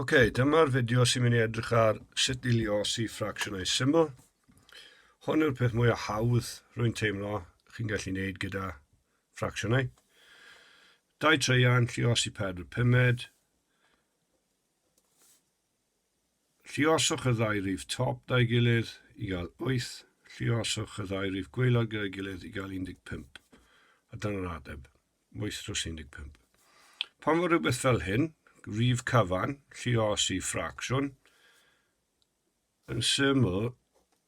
Ok, dyma'r fideo sy'n mynd i edrych ar sut i liosi ffracsiynau syml. Hon yw'r peth mwyaf hawdd rwy'n teimlo chi'n gallu gwneud gyda ffracsiynau. Dau treian, lliosi pedr pumed. Lluoswch y ddau rif top 'da'i gilydd i gael 8, lluoswch y ddau rif gwaelod gyda'i gilydd i gael 15. A dyna'r ateb, wyth dros 15. Pan fo rhywbeth fel hyn, rif cyfan, lluosi ffracsiwn, yn syml,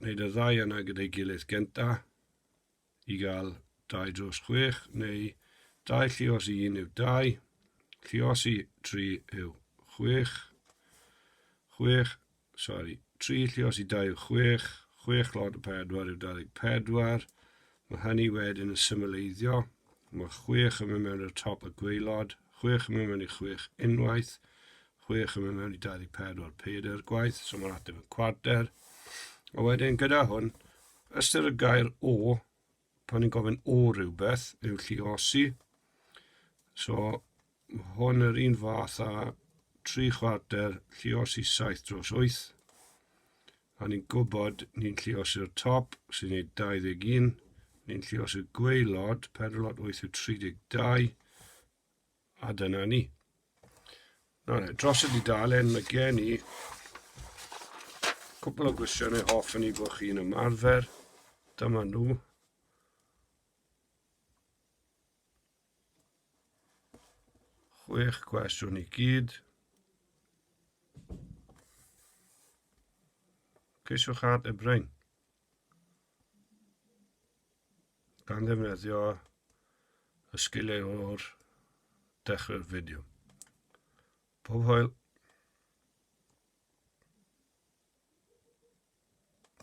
wneud y ddau yna gyda'i gilydd genta i gael dau dros chwech, neu dau llios i un yw dau, llios i tri yw chwech, chwech, sori, tri llios i dau yw chwech, chwech llod o pedwar yw 24, Mae hynny wedyn yn symleiddio, mae chwech yn mynd mewn i'r top y gweilod, chwech yn mynd mewn i chwech unwaith, chwech yn mynd mewn i 24 pedair gwaith, so mae'n ateb yn cwarter. A wedyn gyda hwn, ystyr y gair o, pan ni'n gofyn o rhywbeth, yw lliosi. So, Mae hon yr un fath â tri chwarter lliosi saith dros wyth. A ni'n gwybod ni'n lliosi'r top sy'n ei 21, ni'n llios y gweilod, pedalot 8 yw 32, a dyna ni. Nawr, e, dros y dudalen mae gen i cwpl o gwestiynau hoff yn ei bod chi'n ymarfer. Dyma nhw. Chwech cwestiwn i gyd. Ceisiwch ad y brain. Gan ddefnyddio y sgiliau o'r dechrau'r fideo. Pob hwyl.